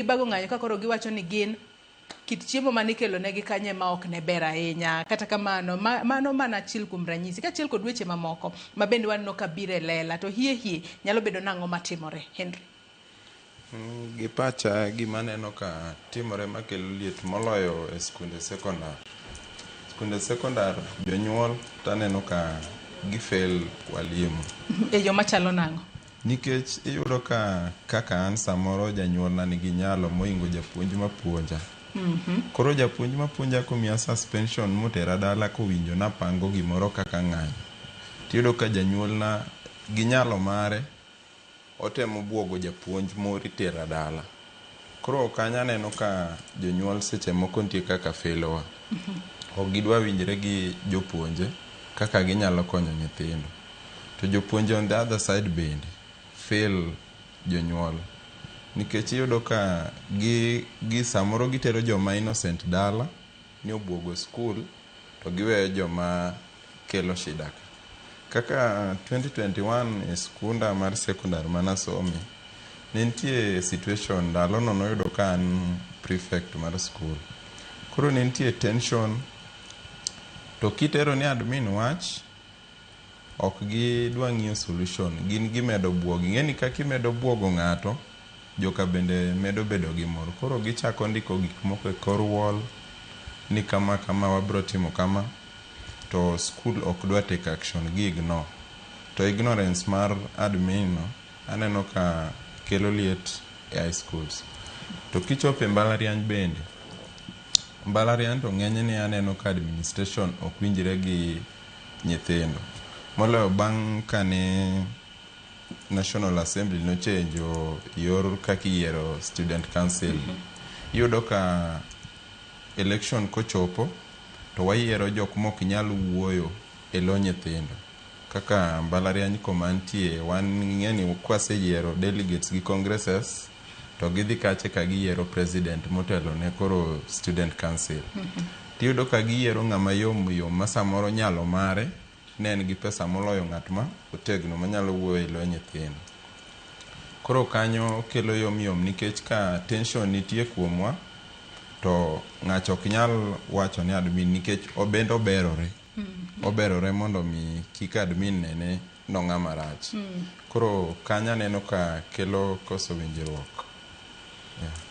gibago ng'anyo ka koro giwacho ni gin kit chiemo mane ikelonegi kanyo ema ok ne ber ahinya kata kamano ma, mano mana achiel kuom ranyisi kaachiel kod weche mamoko ma bende waneno ka biro e lela to hie hie nyalo bedo nang'o matimore henry Mm, Gi pacha gima aneno ka timore makelo liet moloyo e skunde sekondar. Skunde sekondar jonyuol to aneno ka gifail walimu. e yo machalo nang'o Nikech iyudo ka kaka an samoro janyuolna nigi nyalo moingo japuonj mapuonja. Koro japuonj mapuonja komiya suspension motera dala kowinjo napango gimoro kaka ng'anyo, tiyudo ka janyuolna gi nyalo mare otemo buogo japuonj moro itera dala. Koro kanyo aneno ka jonyuol seche moko nitie kaka felowa. Ok gidwa winjre gi jopuonje kaka ginyalo konyo nyithindo. To jopuonje on the other side bende fail jonyuol nikech iyudo ka gi samoro gitero joma innocent dala. ni obuogo skul to giweyo joma kelo shida ka. Kaka 2021 e skunda mar sekondar manasome, ne nitie situation ndalono noyudo ka an prefect mar skul. Koro ne nitie tension to kitero ni admin wach, Ok gi dwa ng'iyo solution. Gin gimedo buogo. Ing'eni kaka imedo buogo ng'ato, joka bende medo bedo gi mor. Koro gichako ndiko gik moko e kor wall ni kama kama wabiro timo kama to school ok dwa take action. Gi ignore. To ignorance mar admin no aneno ka kelo liet e high schools. To kichopo e mbalariany bende, mbalariany to ng'enyne aneno ka administration ok winjre gi nyithindo. Moloyo bang' kane National Assembly nochenjo yor kaka iyiero Student Council. Iyudo ka election kochopo to wayiero jok mok nyal wuoyo e lo nyithindo. Kaka mbalariany koma antie wan ing'eni kwaseyiero delegates gi congresses, to gidhi kache ka giyiero president motelo ne koro student council tiyudo ka giyiero ng'ama yom yom ma samoro nyalo mare ne en gi pesa moloyo ng'at ma otegno manyalo wuoyo e lo nyithindo koro kanyo kelo yom yom nikech ka tension nitie kuomwa to ng'ato ok nyal wacho ne admin nikech obende oberore oberore mondo mi kik admin nene nong'a marach. Koro kanyo aneno ka kelo koso winjruok. Yeah.